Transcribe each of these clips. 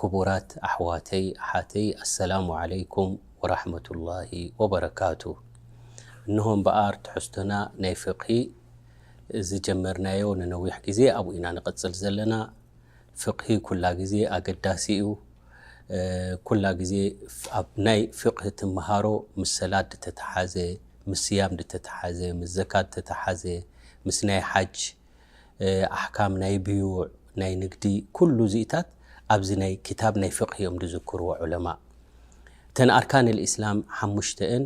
ክቡራት ኣሕዋተይ ኣሓተይ ኣሰላሙ ዓለይኩም ወራሕመቱላሂ ወበረካቱ እንሆ እምበኣር ትሕዝቶና ናይ ፍቅሂ ዝጀመርናዮ ንነዊሕ ግዜ ኣብኡ ኢና ንቅጽል ዘለና ፍቅሂ ኩላ ግዜ ኣገዳሲ እዩ ኩላ ግዜ ኣብ ናይ ፍቅሂ ትመሃሮ ምስ ሰላት ድተተሓዘ ምስ ስያም ድተተሓዘ ምስ ዘካት ድተተሓዘ ምስ ናይ ሓጅ ኣሕካም ናይ ብዩዕ ናይ ንግዲ ኩሉ ዚታት ኣብዚ ናይ ክታብ ናይ ፍቅህ እዮም ዝዝክርዎ ዑለማእ እተን ኣርካን ልእስላም ሓሙሽተኤን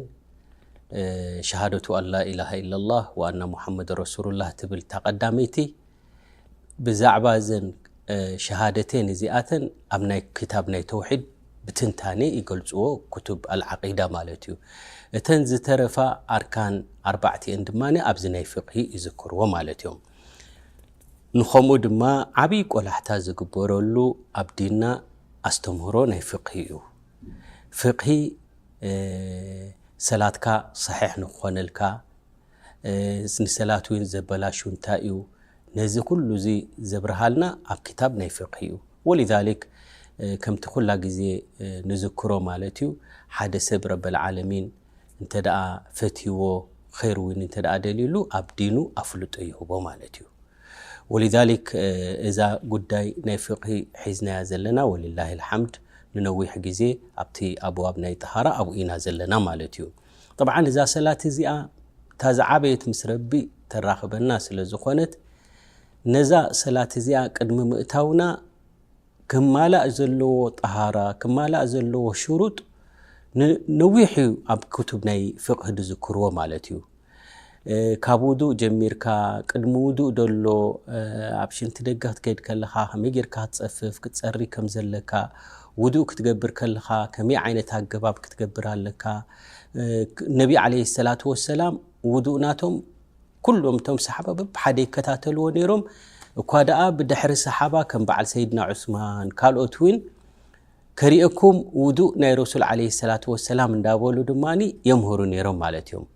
ሸሃደቱ ኣን ላኢላሃ ኢላላህ ወኣና ሙሓመድ ረሱሉላህ ትብል እታ ቀዳመይቲ ብዛዕባ እዘን ሸሃደቴን እዚኣተን ኣብ ናይ ክታብ ናይ ተውሒድ ብትንታኔ ይገልጽዎ ኩቱብ ኣልዓቂዳ ማለት እዩ እተን ዝተረፋ ኣርካን ኣርባዕቲኤን ድማ ኣብዚ ናይ ፍቅሂ ይዝክርዎ ማለት እዮም ንኸምኡ ድማ ዓብይ ቆላሕታ ዝግበረሉ ኣብ ዲንና ኣስተምህሮ ናይ ፍቅሂ እዩ ፍቅሂ ሰላትካ ሰሒሕ ንክኾነልካ ንሰላት ውን ዘበላሹ እንታይ እዩ ነዚ ኩሉ እዚ ዘብርሃልና ኣብ ክታብ ናይ ፍቅሂ እዩ ወሊዛሊክ ከምቲ ኩላ ግዜ ንዝክሮ ማለት እዩ ሓደ ሰብ ረበልዓለሚን እንተ ፈትይዎ ኸይር ውን እንተ ደልዩሉ ኣብ ዲኑ ኣፍልጦ ይህቦ ማለት እዩ ወሊዛሊክ እዛ ጉዳይ ናይ ፍቅሂ ሒዝናያ ዘለና ወሊላሂ ልሓምድ ንነዊሕ ግዜ ኣብቲ ኣብዋብ ናይ ጠሃራ ኣብኡ ኢና ዘለና ማለት እዩ ጠብዓን እዛ ሰላት እዚኣ እታ ዝዓበየት ምስ ረቢ ተራኽበና ስለ ዝኾነት ነዛ ሰላት እዚኣ ቅድሚ ምእታውና ክማላእ ዘለዎ ጠሃራ ክማላእ ዘለዎ ሽሩጥ ንነዊሕ እዩ ኣብ ክቱብ ናይ ፍቕህ ዝዝክርዎ ማለት እዩ ካብ ውዱእ ጀሚርካ ቅድሚ ውዱእ ደሎ ኣብ ሽንቲ ደገ ክትከይድ ከለኻ ከመይ ጌርካ ክትጸፍፍ ክትጸሪ ከም ዘለካ ውዱእ ክትገብር ከለኻ ከመይ ዓይነት ኣገባብ ክትገብር ኣለካ ነቢ ዓለይሂ ሰላቱ ወሰላም ውዱእ ናቶም ኩሎም እቶም ሰሓባ በብሓደ ይከታተልዎ ነይሮም እኳ ደኣ ብድሕሪ ሰሓባ ከም በዓል ሰይድና ዑስማን ካልኦት እውን ከርእየኩም ውዱእ ናይ ረሱል ዓለይሂ ሰላቱ ወሰላም እንዳበሉ ድማ የምህሩ ነይሮም ማለት እዮም።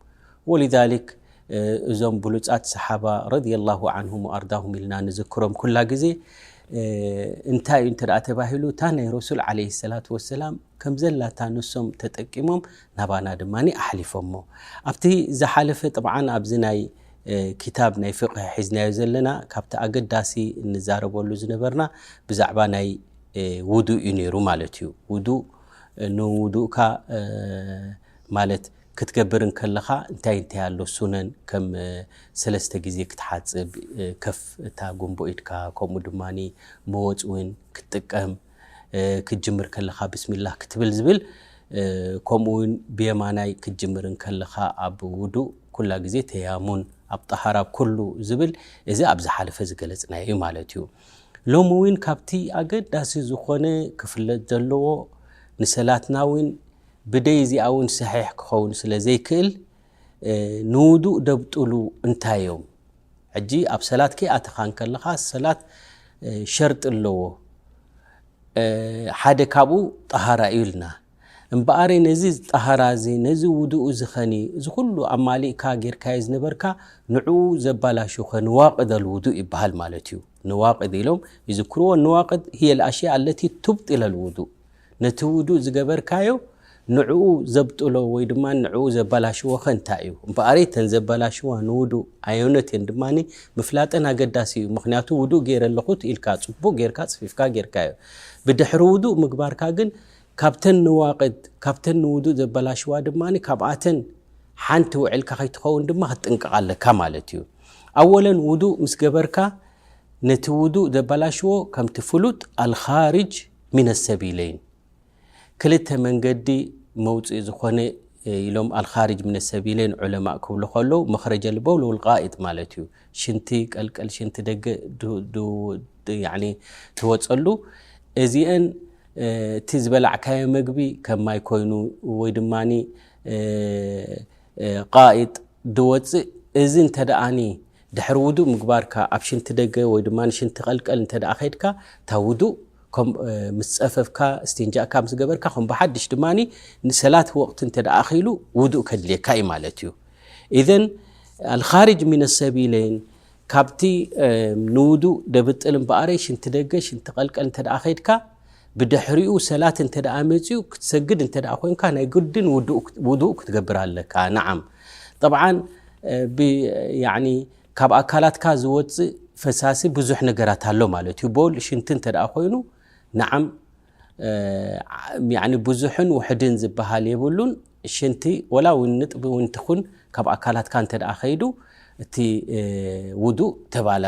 ወሊዛሊክ እዞም ብሉጻት ሰሓባ ረዲየላሁ ዓንሁም ወኣርዳሁም ኢልና ንዝክሮም ኩላ ግዜ እንታይ እዩ እንተ ተባሂሉ እታ ናይ ረሱል ዓለይሂ ሰላቱ ወሰላም ከም ዘላታ ንሶም ተጠቂሞም ናባና ድማ ኣሕሊፎሞ ኣብቲ ዝሓለፈ ጥብዓ ኣብዚ ናይ ክታብ ናይ ፍቅሂ ሒዝናዮ ዘለና ካብቲ ኣገዳሲ እንዛረበሉ ዝነበርና ብዛዕባ ናይ ውዱእ እዩ ነይሩ ማለት እዩ ውዱእ ንውዱእካ ማለት ክትገብር ከለኻ እንታይ እንታይ ኣሎ ሱነን ከም ሰለስተ ግዜ ክትሓፅብ ከፍ እታ ጎንቦ ኢድካ ከምኡ ድማ መወፅ እውን ክትጥቀም ክትጅምር ከለኻ ብስሚላ ክትብል ዝብል ከምኡውን ብየማናይ ክትጅምር ከለኻ ኣብ ውዱእ ኩላ ግዜ ተያሙን ኣብ ጠሃራ ኩሉ ዝብል እዚ ኣብ ዝሓለፈ ዝገለፅናዮ እዩ ማለት እዩ ሎሚ ውን ካብቲ ኣገዳሲ ዝኾነ ክፍለጥ ዘለዎ ንሰላትና ውን ብደይ እዚኣ ውን ሰሒሕ ክኸውን ስለ ዘይክእል ንውዱእ ደብጥሉ እንታይ እዮም ሕጂ ኣብ ሰላት ከይኣተኻ እንከለኻ ሰላት ሸርጢ ኣለዎ ሓደ ካብኡ ጠሃራ እዩ ኢልና እምበኣር ነዚ ጣህራ እዚ ነዚ ውዱእ እዚ ኸኒ እዚ ኹሉ ኣማሊእካ ጌርካዮ ዝነበርካ ንዕኡ ዘባላሹ ከ ንዋቅድ ኣልውዱእ ይበሃል ማለት እዩ ንዋቅድ ኢሎም ይዝክርዎ ንዋቅድ ህየ ልኣሽያ ኣለቲ ቱብጢል ኣልውዱእ ነቲ ውዱእ ዝገበርካዮ ንዕኡ ዘብጥሎ ወይ ድማ ንዕኡ ዘባላሽዎ ከ እንታይ እዩ እምበኣረይ ተን ዘባላሽዋ ንውዱእ ኣዮነት እየን ድማ ምፍላጠን ኣገዳሲ እዩ ምክንያቱ ውዱእ ገይረ ኣለኹት ኢልካ ፅቡቅ ጌርካ ፅፊፍካ ጌርካዮ ብድሕሪ ውዱእ ምግባርካ ግን ካብተን ንዋቅድ ካብተን ንውዱእ ዘበላሽዋ ድማ ካብኣተን ሓንቲ ውዒልካ ከይትኸውን ድማ ክትጥንቀቕ ኣለካ ማለት እዩ። ኣወለን ውዱእ ምስ ገበርካ ነቲ ውዱእ ዘበላሽዎ ከምቲ ፍሉጥ ኣልኻርጅ ሚነ ሰቢለይን ክልተ መንገዲ መውጽኢ ዝኾነ ኢሎም ኣልኻርጅ ሚነ ሰቢለይን ዑለማእ ክብሉ ከለዉ መኽረጀል በውል ወል ቃኢጥ ማለት እዩ። ሽንቲ ቀልቀል ሽንቲ ደገ ትወፀሉ እዚአን እቲ ዝበላዕካዮ መግቢ ከም ማይ ኮይኑ ወይ ድማ ቃይጥ ድወፅእ እዚ እንተ ደኣኒ ድሕሪ ውዱእ ምግባርካ ኣብ ሽንቲ ደገ ወይ ድማ ሽንቲ ቀልቀል እንተ ደኣ ከድካ እታ ውዱእ ምስ ፀፈፍካ ስቴንጃእካ ምስ ገበርካ ከም ብሓድሽ ድማ ንሰላት ወቕቲ እንተ ደኣ ኣኺሉ ውዱእ ከድልየካ እዩ ማለት እዩ ኢዘን ኣልኻርጅ ሚነ ሰቢለይን ካብቲ ንውዱእ ደብጥል እምበኣረይ ሽንቲ ደገ ሽንቲ ቀልቀል እንተ ከድካ ብድሕሪኡ ሰላት እንተ መፅኡ ክትሰግድ እንተ ኮንካ ናይ ግድን ውዱእ ክትገብር ኣለካ ንዓም ጠብዓን ካብ ኣካላትካ ዝወፅእ ፈሳሲ ብዙሕ ነገራት ኣሎ ማለት እዩ ቦል ሽንቲ እንተ ኮይኑ ንዓም ብዙሕን ውሕድን ዝበሃል የብሉን ሽንቲ ወላ ውን ንጥቢ ውን ትኹን ካብ ኣካላትካ እንተደኣ ከይዱ እቲ ውዱእ ተባላ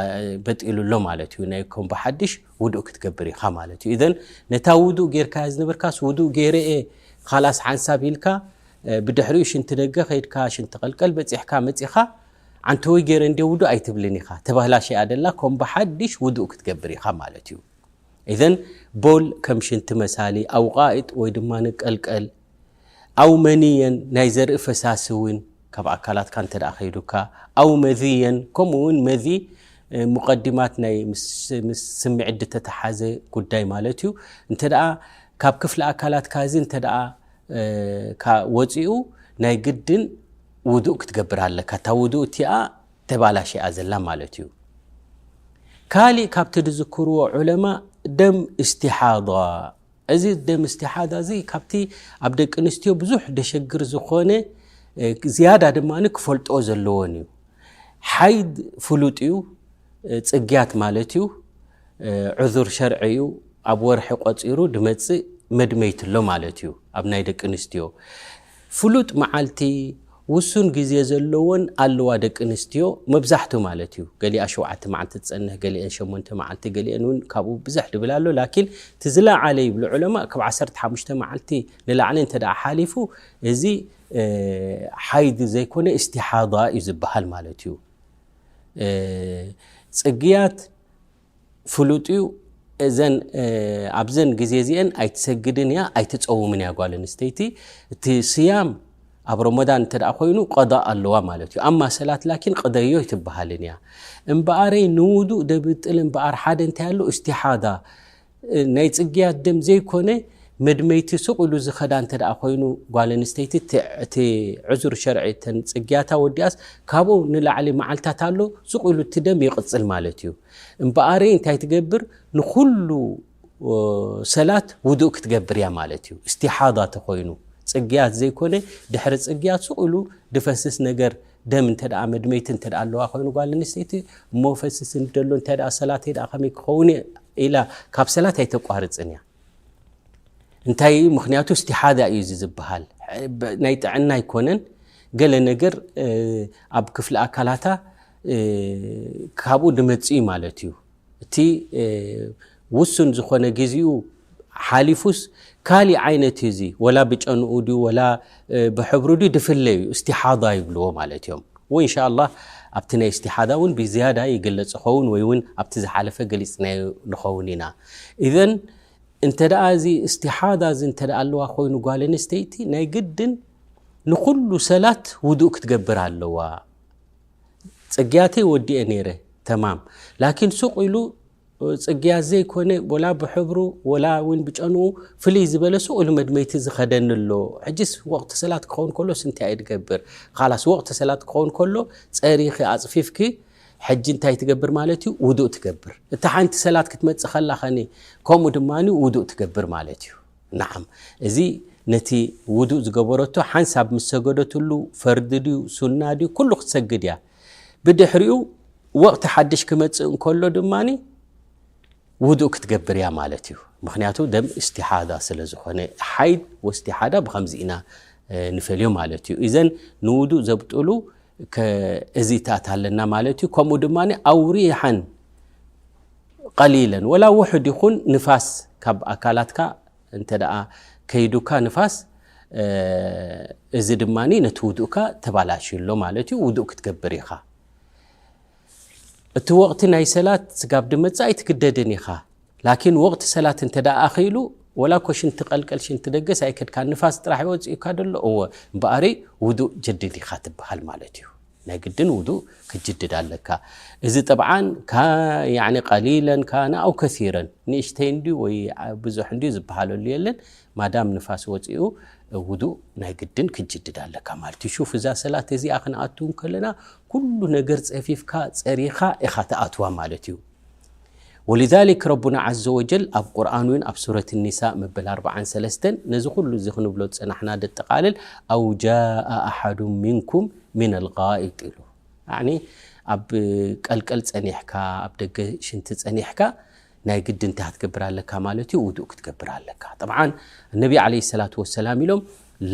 በጢሉ ኣሎ ማለት እዩ ናይ ከም ብሓድሽ ውዱእ ክትገብር ኢኻ ማለት እዩ እዘን ነታ ውዱእ ጌርካያ ዝነበርካስ ውዱእ ጌረኤ ኻላስ ሓንሳብ ኢልካ ብድሕሪኡ ሽንቲ ደገ ከይድካ ሽንቲ ቀልቀል በፂሕካ መፂኻ ዓንተወይ ጌረ እንዲ ውዱእ ኣይትብልን ኢኻ ተባህላሸያ ደላ ከም ብሓድሽ ውዱእ ክትገብር ኢኻ ማለት እዩ እዘን ቦል ከም ሽንቲ መሳሊ ኣውቃኢጥ ወይ ድማ ንቀልቀል ኣውመንየን ናይ ዘርኢ ፈሳሲ እውን ካብ ኣካላትካ እንተ ከይዱካ ኣው መዝየን ከምኡ እውን መዚ ሙቀዲማት ናይ ምስ ስምዒት ድተተሓዘ ጉዳይ ማለት እዩ እንተ ካብ ክፍሊ ኣካላትካ እዚ እንተ ወፂኡ ናይ ግድን ውዱእ ክትገብር ኣለካ እታ ውዱእ እቲኣ ተባላሸኣ ዘላ ማለት እዩ ካሊእ ካብቲ ዝዝክርዎ ዑለማ ደም እስትሓض እዚ ደም እስቲሓዳ እዚ ካብቲ ኣብ ደቂ ኣንስትዮ ብዙሕ ደሸግር ዝኾነ ዝያዳ ድማ ክፈልጦ ዘለዎን እዩ ሓይድ ፍሉጥ እዩ ፅግያት ማለት እዩ ዑዙር ሸርዒ እዩ ኣብ ወርሒ ቆፂሩ ድመፅእ መድመይትሎ ማለት እዩ ኣብ ናይ ደቂ ኣንስትዮ ፍሉጥ መዓልቲ ውሱን ግዜ ዘለወን ኣለዋ ደቂ ኣንስትዮ መብዛሕቱ ማለት እዩ ገሊኣ ሸውዓተ መዓልቲ ትጸንሕ ገሊኤን ሸሞንተ መዓልቲ ገሊኤን ውን ካብኡ ብዝሕ ድብል ኣሎ ላኪን እቲ ዝለዓለ ይብሉ ዑለማእ ካብ ዓሰርተ ሓሙሽተ መዓልቲ ንላዕሊ እንተ ሓሊፉ እዚ ሓይድ ዘይኮነ እስቲሓዳ እዩ ዝበሃል ማለት እዩ ጽግያት ፍሉጥዩ እዘን ኣብዘን ግዜ እዚኤን ኣይትሰግድን እያ ኣይትፀውምን እያ ጓል ኣንስተይቲ እቲ ስያም ኣብ ሮሞዳን እንተ ኮይኑ ቐዳእ ኣለዋ ማለት እዩ ኣማ ሰላት ላኪን ቕደዮ ኣይትበሃልን እያ እምበኣረይ ንውዱእ ደብጥል እምበኣር ሓደ እንታይ ኣሎ እስትሓዳ ናይ ፅግያት ደም ዘይኮነ መድመይቲ ሱቕ ኢሉ ዝኸዳ እንተ ኮይኑ ጓል ኣንስተይቲ እቲ ዕዙር ሸርዒ እተን ጽግያታ ወዲኣስ ካብኡ ንላዕሊ መዓልታት ኣሎ ሱቕ ኢሉ እቲ ደም ይቕጽል ማለት እዩ። እምበኣሪ እንታይ ትገብር ንኹሉ ሰላት ውዱእ ክትገብር እያ ማለት እዩ። እስቲሓዳ ተኾይኑ ጽግያት ዘይኮነ ድሕሪ ጽግያት ሱቕ ኢሉ ድፈስስ ነገር ደም እንተ መድመይቲ እንተ ኣለዋ ኮይኑ ጓል ኣንስተይቲ እሞ ፈስስ ደሎ እንታይ ሰላተይ ከመይ ክኸውን ኢላ ካብ ሰላት ኣይተቋርጽን እያ እንታይ እዩ ምክንያቱ ስቲሓዛ እዩ እዚ ዝበሃል ናይ ጥዕና ኣይኮነን ገለ ነገር ኣብ ክፍሊ ኣካላታ ካብኡ ድመፅ እዩ ማለት እዩ እቲ ውሱን ዝኾነ ግዜኡ ሓሊፉስ ካሊእ ዓይነት እዩ እዚ ወላ ብጨንኡ ድዩ ወላ ብሕብሩ ድዩ ድፍለ እዩ እስቲሓዳ ይብልዎ ማለት እዮም ወኢን ሻላ ኣብቲ ናይ እስቲሓዳ እውን ብዝያዳ ይገለፅ ዝኸውን ወይ እውን ኣብቲ ዝሓለፈ ገሊፅናዮ ንኸውን ኢና እዘን እንተ ደኣ እዚ እስቲሓዳ እዚ እንተ ኣለዋ ኮይኑ ጓል ኣንስተይቲ ናይ ግድን ንኩሉ ሰላት ውዱእ ክትገብር ኣለዋ ፅግያተይ ወዲኤ ነይረ ተማም ላኪን ሱቅ ኢሉ ጽግያት ዘይኮነ ወላ ብሕብሩ ወላ ውን ብጨንኡ ፍልይ ዝበለ ሱቕ ኢሉ መድመይቲ ዝኸደኒ ኣሎ። ሕጂስ ወቕቲ ሰላት ክኸውን ከሎስ እንታይ እየ ድገብር? ኻላስ ወቕቲ ሰላት ክኸውን ከሎ ጸሪኺ ኣጽፊፍኪ ሕጂ እንታይ ትገብር ማለት እዩ? ውዱእ ትገብር። እታ ሓንቲ ሰላት ክትመጽእ ከላ ኸኒ ከምኡ ድማ ውዱእ ትገብር ማለት እዩ። ናዓም እዚ ነቲ ውዱእ ዝገበረቶ ሓንሳብ ምስ ሰገደትሉ ፈርዲ ድዩ ሱና ድዩ ኩሉ ክትሰግድ እያ። ብድሕሪኡ ወቕቲ ሓድሽ ክመጽእ እንከሎ ድማ ውዱእ ክትገብር እያ ማለት እዩ ምክንያቱ ደም እስቲሓዳ ስለ ዝኾነ ሓይድ ወስቲሓዳ ብከምዚ ኢና ንፈልዮ ማለት እዩ እዘን ንውዱእ ዘብጥሉ እዚታት ኣለና ማለት እዩ ከምኡ ድማ ኣውሪሓን ቀሊለን ወላ ውሕድ ይኹን ንፋስ ካብ ኣካላትካ እንተ ደኣ ከይዱካ ንፋስ እዚ ድማ ነቲ ውዱእካ ተባላሽዩ ኣሎ ማለት እዩ፣ ውዱእ ክትገብር ኢኻ። እቲ ወቕቲ ናይ ሰላት ስጋብ ድመጽእ ኣይትግደድን ኢኻ። ላኪን ወቕቲ ሰላት እንተ ደኣ ኣኺሉ ወላ እኮ ሽንቲ ቀልቀል ሽንቲ ደገስ ኣይከድካን ንፋስ ጥራሕ እዩ ወጺኡካ ዘሎ እወ እምበኣሪ ውዱእ ጀድድ ኢኻ ትበሃል ማለት እዩ። ናይ ግድን ውዱእ ክትጅድድ ኣለካ። እዚ ጠብዓን ካን ቀሊለን ካን ኣው ከሲረን ንእሽተይ እንድዩ ወይ ብዙሕ እንድዩ ዝበሃለሉ የለን ማዳም ንፋስ ወጺኡ ውዱእ ናይ ግድን ክትጅድድ ኣለካ ማለት እዩ። ሹፍ እዛ ሰላት እዚኣ ክንኣትው ከለና ኩሉ ነገር ጸፊፍካ ጸሪኻ ኢኻ ትኣትዋ ማለት እዩ። ወሊዛሊክ ረቡና ዓዘ ወጀል ኣብ ቁርኣን እውን ኣብ ሱረት ኒሳ መበል ኣርብዓን ሰለስተን ነዚ ኩሉ እዚ ክንብሎ ዝጸናሕና ደጠቓልል ኣው ጃኣ ኣሓዱ ምንኩም ምን ኣልጋኢጥ ኢሉ ያዕኒ ኣብ ቀልቀል ጸኒሕካ ኣብ ደገ ሽንቲ ጸኒሕካ ናይ ግዲ እንታይ ክትገብር ኣለካ ማለት እዩ ውዱእ ክትገብር ኣለካ ጠብዓን ነቢ ዓለይሂ ሰላቱ ወሰላም ኢሎም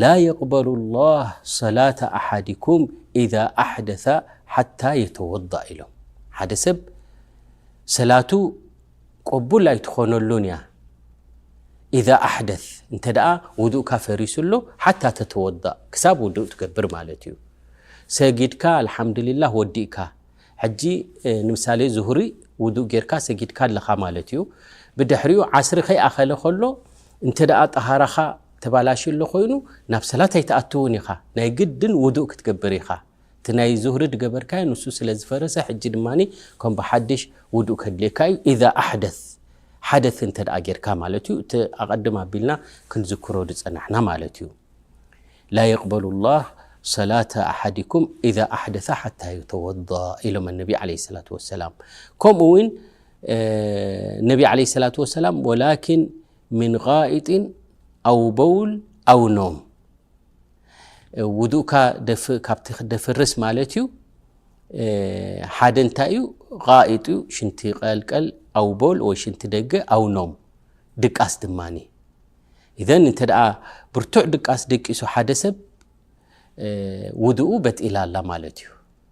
ላ የቅበሉ ላህ ሰላተ ኣሓዲኩም ኢዛ ኣሕደሰ ሓታ የተወዳእ ኢሎም ሓደ ሰብ ሰላቱ ቆቡል ኣይትኾነሉን እያ ኢዛ ኣሕደስ እንተ ደኣ ውዱእካ ፈሪሱ ኣሎ ሓታ ተተወዳእ ክሳብ ውዱእ ትገብር ማለት እዩ ሰጊድካ ኣልሓምዱሊላህ ወዲእካ ሕጂ ንምሳሌ ዙሁሪ ውዱእ ጌርካ ሰጊድካ ኣለኻ ማለት እዩ ብድሕሪኡ ዓስሪ ከይኣኸለ ከሎ እንተ ደኣ ጠሃራኻ ተባላሽዩ ኣሎ ኮይኑ ናብ ሰላት ኣይትኣትውን ኢኻ ናይ ግድን ውዱእ ክትገብር ኢኻ እቲ ናይ ዙህሪ ድገበርካዮ ንሱ ስለ ዝፈረሰ ሕጂ ድማ ከም ብሓድሽ ውዱእ ከድልየካ እዩ ኢዛ ኣሕደት ሓደት እንተ ጌርካ ማለት እዩ እቲ ኣቐድም ኣቢልና ክንዝክሮ ዝጸናሕና ማለት እዩ ላ የቅበሉ ላህ ሰላተ ኣሓዲኩም ኢዛ ኣሕደث ሓታ ዩተወض ኢሎም ነቢ ለ ሰላት ወሰላም ከምኡ ውን ነቢ ለ ሰላት ወሰላም ወላኪን ምን ቃኢጢን ኣው በውል ኣው ኖም ውዱእካ ካብቲ ክደፍርስ ማለት እዩ ሓደ እንታይ እዩ ቃኢጥ እዩ ሽንቲ ቀልቀል ኣው ቦል ወይ ሽንቲ ደገ ኣው ኖም ድቃስ ድማ እዘን እንተ ደኣ ብርቱዕ ድቃስ ደቂሱ ሓደ ሰብ ውድኡ በጢላ ኣላ ማለት እዩ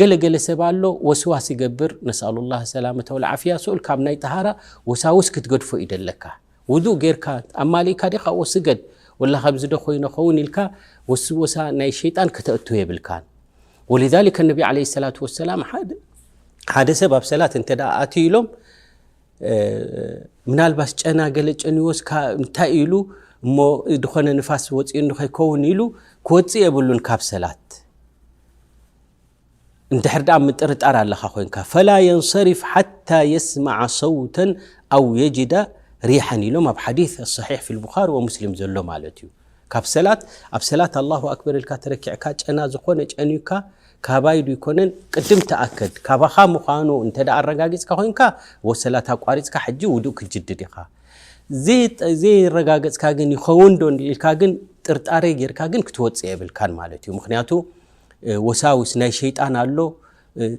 ገለ ገለ ሰብ ኣሎ ወስዋስ ይገብር ነስኣሉላህ ሰላመተ ወልዓፍያ ስኡል ካብ ናይ ጠሃራ ወሳውስ ክትገድፎ እዩ ደለካ ውዱእ ጌርካ ኣማሊእካ ዲኻ ኣብኡ ስገድ ወላ ከምዚ ዶ ኮይነ ኸውን ኢልካ ወስወሳ ናይ ሸይጣን ከተእቱ የብልካን ወሊዛሊከ ነቢ ዓለይሂ ሰላቱ ወሰላም ሓደ ሰብ ኣብ ሰላት እንተ ደኣ ኣትዩ ኢሎም ምናልባስ ጨና ገለ ጨንዎስ እንታይ ኢሉ እሞ ዝኾነ ንፋስ ወፂኡ እንኸይከውን ኢሉ ክወፅእ የብሉን ካብ ሰላት እንድሕር ደኣ ምጥርጣር ኣለካ ኮንካ ፈላ የንሰሪፍ ሓታ የስማዓ ሰውተን ኣው የጅዳ ሪሓን ኢሎም ኣብ ሓዲስ ኣሳሒሕ ፊ ልቡኻሪ ወሙስሊም ዘሎ ማለት እዩ ካብ ሰላት ኣብ ሰላት ኣላሁ ኣክበር ኢልካ ተረኪዕካ ጨና ዝኾነ ጨንዩካ ካባይ ዶ ይኮነን ቅድም ተኣከድ ካባኻ ምዃኑ እንተ ኣረጋጊፅካ ኮንካ ወሰላት ኣቋሪፅካ ሕጂ ውዱእ ክትጅድድ ኢኻ ዘየረጋገፅካ ግን ይኸውን ዶ ኢልካ ግን ጥርጣሬ ጌርካ ግን ክትወፅእ የብልካን ማለት እዩ ምክንያቱ ወሳውስ ናይ ሸይጣን ኣሎ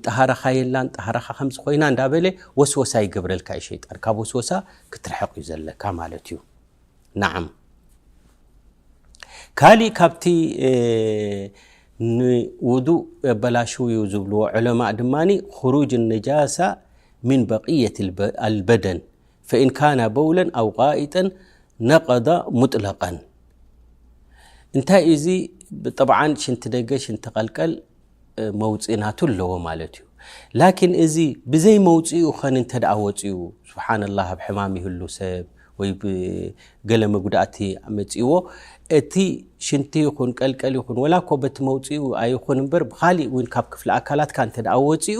ጠሃራኻ የላን ጠሃራኻ ከምዚ ኮይና እንዳበለ ወስወሳ ይገብረልካ እዩ ሸይጣን ካብ ወስወሳ ክትርሕቕ እዩ ዘለካ ማለት እዩ ንዓም ካሊእ ካብቲ ንውዱእ ኣበላሽ እዩ ዝብልዎ ዕለማእ ድማ ክሩጅ ነጃሳ ምን በቅየት ኣልበደን ፈኢን ካና በውለን ኣው ቃኢጠን ነቀዳ ሙጥለቀን እንታይ እዚ ብጠብዓ ሽንቲ ደገ ሽንቲ ቀልቀል መውፅ ናቱ ኣለዎ ማለት እዩ ላኪን እዚ ብዘይ መውፅኡ ኸን እንተ ወፅኡ ስብሓን ላ ኣብ ሕማም ይህሉ ሰብ ወይ ገለ መጉዳእቲ መፅዎ እቲ ሽንቲ ይኹን ቀልቀል ይኹን ወላ ኮ በቲ መውፅኡ ኣይኹን እምበር ብካሊእ እውን ካብ ክፍሊ ኣካላትካ እንተ ወፅኡ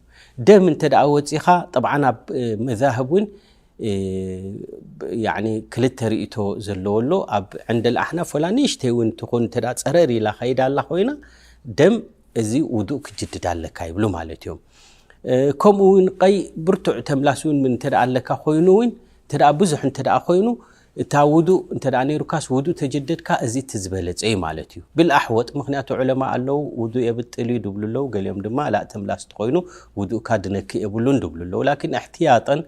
ደም እንተደኣ ወጺኻ ጠብዓን ኣብ መዛህብ እውን ያዕኒ ክልተ ርእይቶ ዘለዎ ኣሎ ኣብ ዕንደል ኣሕናፍ ወላ ንእሽተይ እውን ትኹን እንተ ጸረር ኢላ ከይዳ ኣላ ኮይና ደም እዚ ውዱእ ክጅድድ ኣለካ ይብሉ ማለት እዮም ከምኡ እውን ቀይ ብርቱዕ ተምላስ እውን እንተ ኣለካ ኮይኑ እውን እንተ ብዙሕ እንተ ኮይኑ እታ ውዱእ እንተ ነይሩካስ ውዱእ ተጀደድካ እዚ እቲ ዝበለጸ እዩ ማለት እዩ ብል ኣሕወጥ ምክንያቱ ዑለማ ኣለው ውዱእ የብጥል እዩ ድብሉ ኣለው ገሊኦም ድማ ላእ ተምላስ ተኾይኑ ውዱእካ ድነክእ የብሉን ድብሉ ኣለው ላኪን እሕትያጠን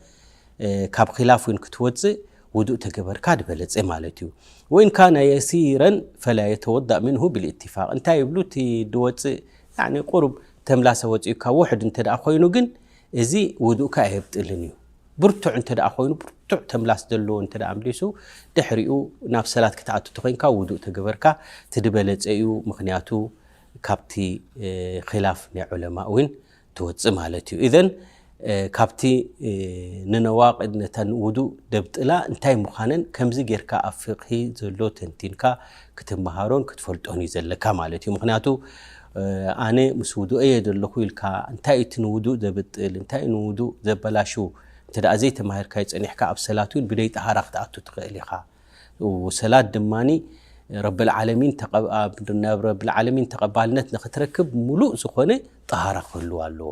ካብ ኺላፍ ዊን ክትወጽእ ውዱእ ተገበርካ ድበለጸ ማለት እዩ ወይን ካነ የሲረን ፈላ የተወዳእ ምንሁ ብልእትፋቅ እንታይ ይብሉ እቲ ድወጽእ ያኒ ቁሩብ ተምላሰ ወጺኡካ ውሕድ እንተ ኮይኑ ግን እዚ ውዱእካ ኣየብጥልን እዩ ብርቱዕ እንተ ኮይኑ ብርቱዕ ተምላስ ዘለዎ እንተ ኣምሊሱ ድሕሪኡ ናብ ሰላት ክትኣቱ ተኮንካ ውዱእ ተገበርካ ትድበለፀ እዩ ምክንያቱ ካብቲ ኪላፍ ናይ ዑለማ እውን ትወፅእ ማለት እዩ እዘን ካብቲ ንነዋቅድ ነተን ውዱእ ደብጥላ እንታይ ምዃነን ከምዚ ጌርካ ኣብ ፍቅሂ ዘሎ ተንቲንካ ክትመሃሮን ክትፈልጦን እዩ ዘለካ ማለት እዩ ምክንያቱ ኣነ ምስ ውዱእይ እየ ዘለኹ ኢልካ እንታይ እዩ እቲ ንውዱእ ዘብጥል እንታይ እዩ ንውዱእ ዘበላሹ እንተ ዘይተማሂርካዮ ጸኒሕካ ኣብ ሰላት እውን ብደይ ጠሃራ ክትኣቱ ትኽእል ኢኻ ሰላት ድማ ረብልዓለሚን ናብ ረብልዓለሚን ተቐባልነት ንኽትረክብ ምሉእ ዝኾነ ጠሃራ ክህልዋ ኣለዎ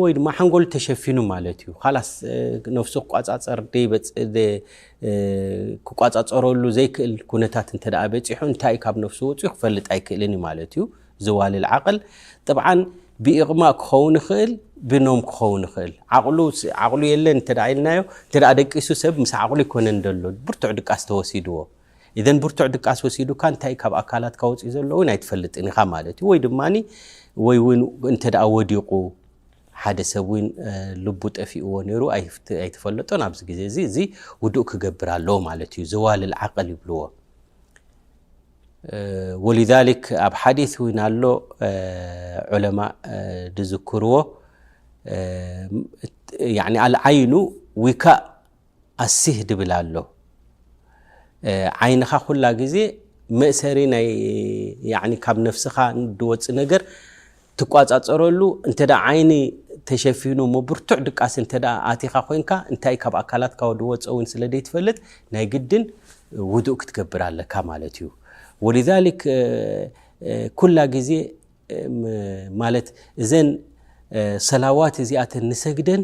ወይ ድማ ሓንጎል ተሸፊኑ ማለት እዩ ካላስ ነፍሱ ክቋፃፀር ክቋፃፀረሉ ዘይክእል ኩነታት እንተ በፂሑ እንታይ ካብ ነፍሱ ወፅኡ ክፈልጥ ኣይክእልን እዩ ማለት እዩ ዝዋልል ዓቕል ጥብዓን ብኢቕማእ ክኸውን ይኽእል ብኖም ክኸውን ይኽእል ዓቕሉ የለን እንተ ኢልናዮ እንተ ደቂሱ ሰብ ምስ ዓቕሉ ይኮነን ዘሎ ብርቱዕ ድቃስ ተወሲድዎ ኢዘን ብርቱዕ ድቃስ ወሲዱካ እንታይ ካብ ኣካላትካ ወጺኡ ዘሎ እውን ኣይትፈልጥን ኢኻ ማለት እዩ ወይ ድማ ወይ እውን እንተ ደኣ ወዲቑ ሓደ ሰብ እውን ልቡ ጠፊእዎ ነይሩ ኣይትፈለጦን ኣብዚ ግዜ እዚ እዚ ውዱእ ክገብር ኣለዎ ማለት እዩ ዘዋልል ዓቕል ይብልዎ ወሊዛሊክ ኣብ ሓዲስ እውን ኣሎ ዑለማ ዝዝክርዎ ዓይኑ ዊካእ ኣሲህ ድብል ኣሎ ዓይንኻ ኩላ ግዜ መእሰሪ ናይ ካብ ነፍስኻ ድወፅእ ነገር ትቋፃፀረሉ እንተ ዓይኒ ተሸፊኑ ብርቱዕ ድቃስ እንተ ኣቲኻ ኮይንካ እንታይ ካብ ኣካላትካ ድወፀ እውን ስለ ዘይትፈልጥ ናይ ግድን ውዱእ ክትገብር ኣለካ ማለት እዩ ወሊዛሊክ ኩላ ግዜ ማለት እዘን ሰላዋት እዚኣተን ንሰግደን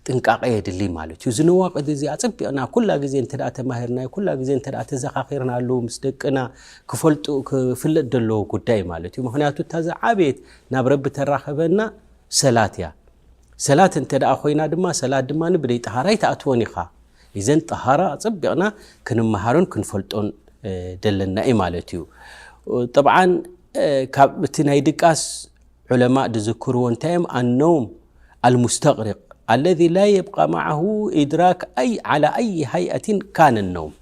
ጥንቃቐ የድልይ ማለት እዩ ዝነዋቅድ እዚ ኣፅቢቕና ኩላ ግዜ እተ ተማሂርና ኩላ ግዜ እተ ተዘኻኺርና ኣሉ ምስ ደቅና ክፈልጡ ክፍለጥ ዘለዎ ጉዳይ ማለት እዩ ምክንያቱ እታ ዝዓበየት ናብ ረቢ ተራኸበና ሰላት እያ ሰላት እንተ ኮይና ድማ ሰላት ድማ ብደይ ጠሃራ ኣይትኣትወን ኢኻ ኢዘን ጠሃራ ኣጸቢቕና ክንመሃሮን ክንፈልጦን ደለና እዩ ማለት እዩ ጠብዓን ካብ እቲ ናይ ድቃስ ዑለማእ ድዝክርዎ እንታይ እዮም ኣነውም ኣልሙስተቅሪቅ ኣለذ ላ የብቃ ማዓሁ ኢድራክ ኣይ ዓላ ኣይ ሃይኣትን ካነ ነውም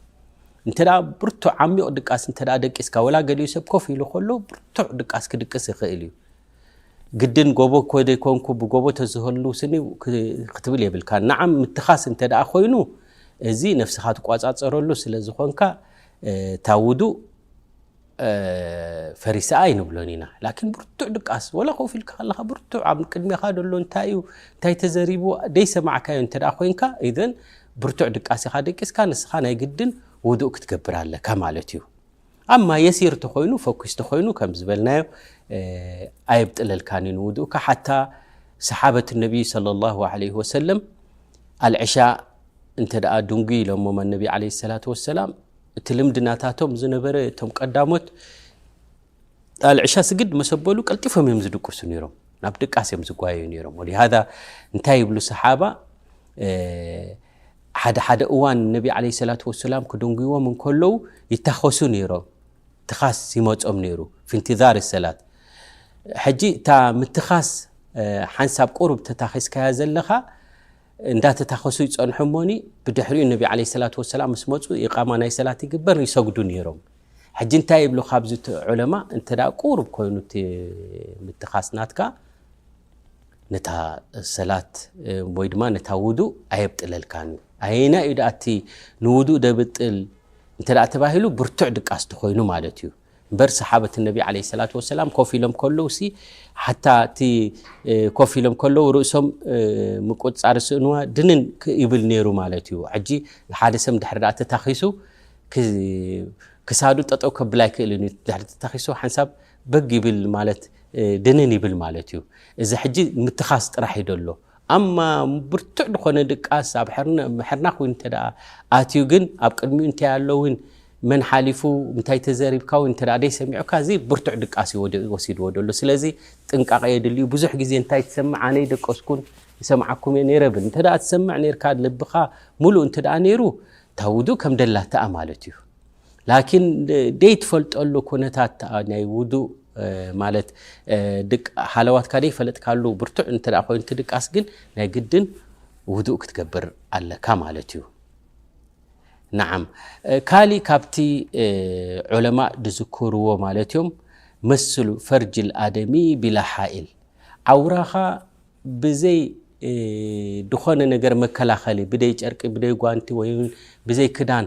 እንተ ብርቱዕ ዓሚቕ ድቃስ እተ ደቂስካ ወላ ገሊኡ ሰብ ኮፍ ኢሉ ከሎ ብርቱዕ ድቃስ ክድቅስ ይኽእል እዩ ግድን ጎቦ እኮ ዘይኮንኩ ብጎቦ ተዝህሉ ስኒ ክትብል የብልካ ንዓም ምትኻስ እንተ ደኣ ኮይኑ እዚ ነፍስኻ ትቋጻጸረሉ ስለ ዝኾንካ እታ ውዱእ ፈሪሳ ኣይንብሎን ኢና ላኪን ብርቱዕ ድቃስ ወላ ኮፍ ኢልካ ከለኻ ብርቱዕ ኣብ ቅድሜኻ ደሎ እንታይ እዩ እንታይ ተዘሪቡ ደይሰማዕካዮ እንተ ደኣ ኮንካ ኢዘን ብርቱዕ ድቃስ ኢኻ ደቂስካ ንስኻ ናይ ግድን ውዱእ ክትገብር ኣለካ ማለት እዩ ኣማ የሲር ተኾይኑ ፈኲስ ተኾይኑ ከም ዝበልናዮ ኣየብጥለልካን እዩ ንውድኡካ ሓታ ሰሓበት ነቢይ صለ ላሁ ዓለይህ ወሰለም ኣልዕሻ እንተ ደኣ ድንጉይ ኢሎሞም ኣነቢ ዓለ ሰላት ወሰላም እቲ ልምዲ ናታቶም ዝነበረ እቶም ቀዳሞት ኣልዕሻ ስግድ መሰበሉ ቀልጢፎም እዮም ዝድቅሱ ነይሮም ናብ ድቃስ እዮም ዝጓየዩ ነይሮም ወሊሃ እንታይ ይብሉ ሰሓባ ሓደ ሓደ እዋን ነቢ ዓለይሂ ሰላቱ ወሰላም ክድንጉይዎም እንከለዉ ይታኸሱ ነይሮም። ትኻስ ይመጾም ነይሩ ፊ ኢንቲዛሪ ሰላት። ሕጂ እታ ምትኻስ ሓንሳብ ቁሩብ ተታኺስካያ ዘለኻ እንዳተታኸሱ ይጸንሑ እሞኒ ብድሕሪኡ ነቢ ዓለይሂ ሰላቱ ወሰላም ምስ መጹ ኢቓማ ናይ ሰላት ይግበር ይሰግዱ ነይሮም። ሕጂ እንታይ ይብሉ ካብዚ ዑለማ እንተ ቁሩብ ኮይኑ እቲ ምትኻስ ናትካ ነታ ሰላት ወይ ድማ ነታ ውዱእ ኣየብጥለልካን እዩ። ኣየናይ እዩ ደኣ እቲ ንውዱእ ደብጥል እንተ ተባሂሉ ብርቱዕ ድቃስ ተኾይኑ ማለት እዩ። እምበር ሰሓበት ነቢ ዓለይሂ ሰላቱ ወሰላም ኮፍ ኢሎም ከለውሲ ሓታ እቲ ኮፍ ኢሎም ከለው ርእሶም ምቁፅፃር ስእንዋ ድንን ይብል ነይሩ ማለት እዩ። ሕጂ ሓደ ሰብ ድሕሪ ደኣ ተታኺሱ ክሳዱ ጠጠው ከብል ኣይክእልን እዩ። ድሕሪ ተታኺሱ ሓንሳብ በግ ይብል ማለት ድንን ይብል ማለት እዩ። እዚ ሕጂ ምትኻስ ጥራሕ እዩ ደሎ። ኣማ ብርቱዕ ድኾነ ድቃስ ኣብ ሕርናኽ ውን እንተ ኣትዩ ግን ኣብ ቅድሚኡ እንታይ ኣሎ ውን መን ሓሊፉ እንታይ ተዘሪብካ ውን እንተ ደይሰሚዑካ እዚ ብርቱዕ ድቃስ እዩ ወሲድዎ ደሎ። ስለዚ ጥንቃቐ የድሊ እዩ። ብዙሕ ግዜ እንታይ ትሰምዕ ኣነ ኣይደቀስኩን ይሰምዓኩም እየ ነይረ ብል። እንተ ትሰምዕ ነይርካ ልብኻ ሙሉእ እንተ ነይሩ እታ ውዱእ ከም ደላትኣ ማለት እዩ። ላኪን ደይትፈልጠሉ ኩነታት ናይ ውዱእ ማለት ሃለዋትካ ደይፈለጥካሉ ብርቱዕ እንተ ኮይኑ ትድቃስ ግን ናይ ግድን ውዱእ ክትገብር ኣለካ ማለት እዩ ንዓም ካሊእ ካብቲ ዑለማ ዝዝክርዎ ማለት እዮም መስሉ ፈርጅል ኣደሚ ቢላ ሓኢል ዓውራኻ ብዘይ ዝኾነ ነገር መከላኸሊ ብደይ ጨርቂ ብደይ ጓንቲ ወይ ብዘይ ክዳን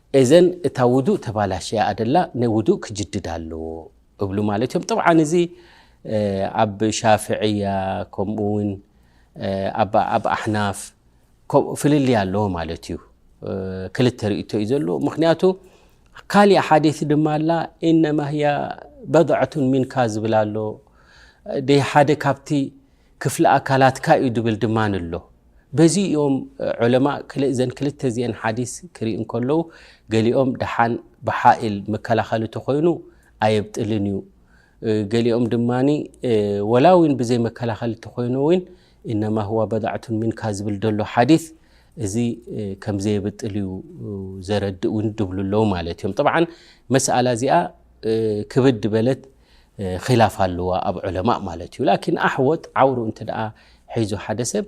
ኤዘን እታ ውዱእ ተባላሽያ ኣደላ ናይ ውዱእ ክጅድድ ኣለዎ እብሉ ማለት እዮም ጠብዓን እዚ ኣብ ሻፍዕያ ከምኡ ውን ኣብ ኣሕናፍ ፍልልይ ኣለዎ ማለት እዩ ክልተ ርእቶ እዩ ዘለዎ ምክንያቱ ካሊእ ሓዲት ድማ ኣላ ኢነማ ህያ በድዐቱን ሚንካ ዝብል ኣሎ ደ ሓደ ካብቲ ክፍሊ ኣካላትካ እዩ ድብል ድማ ኣሎ። በዚ እዮም ዑለማእ እዘን ክልተ እዚኤን ሓዲስ ክሪኡ እንከለዉ ገሊኦም ደሓን ብሓኢል መከላኸሊ ተኾይኑ ኣየብጥልን እዩ ገሊኦም ድማ ወላ እውን ብዘይ መከላኸሊ ተኾይኑ እውን እነማ ህዋ በዳዕቱን ሚንካ ዝብል ደሎ ሓዲስ እዚ ከም ዘየብጥል እዩ ዘረድእ እውን ድብሉ ኣለዉ ማለት እዮም። ጠብዓን መስኣላ እዚኣ ክብድ በለት ኺላፍ ኣለዋ ኣብ ዑለማእ ማለት እዩ ላኪን ኣሕዎት ዓውሩ እንተ ሒዙ ሓደ ሰብ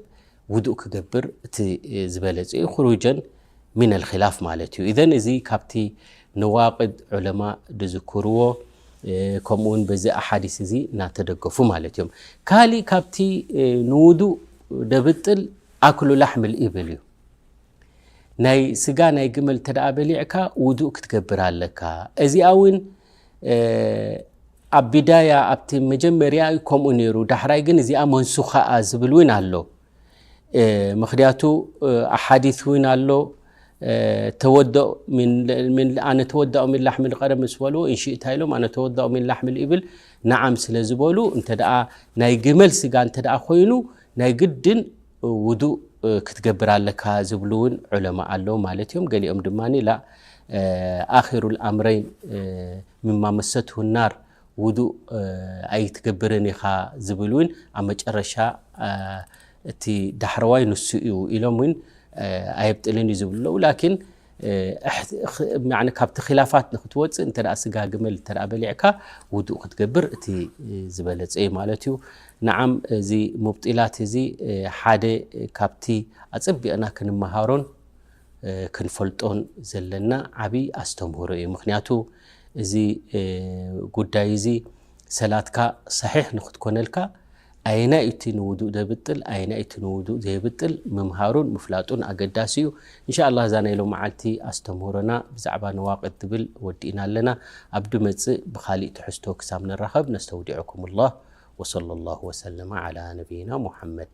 ውዱእ ክገብር እቲ ዝበለፀ እዩ ክሩጀን ሚን ልክላፍ ማለት እዩ እዘን እዚ ካብቲ ነዋቅድ ዑለማ ድዝክርዎ ከምኡ ውን በዚ ኣሓዲስ እዚ ናተደገፉ ማለት እዮም ካሊእ ካብቲ ንውዱእ ደብጥል ኣክሉ ላሕሚ ልኢብል እዩ ናይ ስጋ ናይ ግመል እተ በሊዕካ ውዱእ ክትገብር ኣለካ እዚኣ ውን ኣብ ቢዳያ ኣብቲ መጀመርያ ከምኡ ነይሩ ዳሕራይ ግን እዚኣ መንሱኻኣ ዝብል እውን ኣሎ ምክንያቱ ኣሓዲ እውን ኣሎ ኣነ ተወዳኦ ምን ላሕሚ ቀረ ምስ በልዎ እንሽእታ ኢሎም ኣነ ተወዳኦ ምን ላሕሚ ይብል ንዓም ስለ ዝበሉ እተ ናይ ግመል ስጋ እተ ኮይኑ ናይ ግድን ውዱእ ክትገብር ኣለካ ዝብሉ ውን ዑለማ ኣለው ማለት እዮም። ገሊኦም ድማ ላእ ኣኺሩል ኣምረይን ምማ መሰትሁ ናር ውዱእ ኣይትገብርን ኢኻ ዝብል ውን ኣብ መጨረሻ እቲ ዳሕረዋይ ንሱ እዩ ኢሎም ውን ኣየብጥልን እዩ ዝብሉ ኣለው ላኪን እሕ ካብቲ ኪላፋት ንክትወፅእ እንተ ስጋ ግመል እተ በሊዕካ ውዱእ ክትገብር እቲ ዝበለፀ እዩ ማለት እዩ ንዓም እዚ ሙብጢላት እዚ ሓደ ካብቲ ኣፀቢቕና ክንመሃሮን ክንፈልጦን ዘለና ዓብይ ኣስተምህሮ እዩ ምክንያቱ እዚ ጉዳይ እዚ ሰላትካ ሰሒሕ ንክትኮነልካ ኣየናይ እቲ ንውዱእ ዘብጥል ኣየናይ እቲ ንውዱእ ዘየብጥል ምምሃሩን ምፍላጡን ኣገዳሲ እዩ። እንሻኣላህ እዛ ናይ ሎምዓልቲ ኣስተምህሮና ብዛዕባ ነዋቅድ ትብል ወዲእና ኣለና። ኣብ ድመጽእ ብኻሊእ ትሕዝቶ ክሳብ ንራኸብ ነስተውዲዑኩሙላህ ወሰለላሁ ወሰለመ ዓላ ነብይና ሙሓመድ።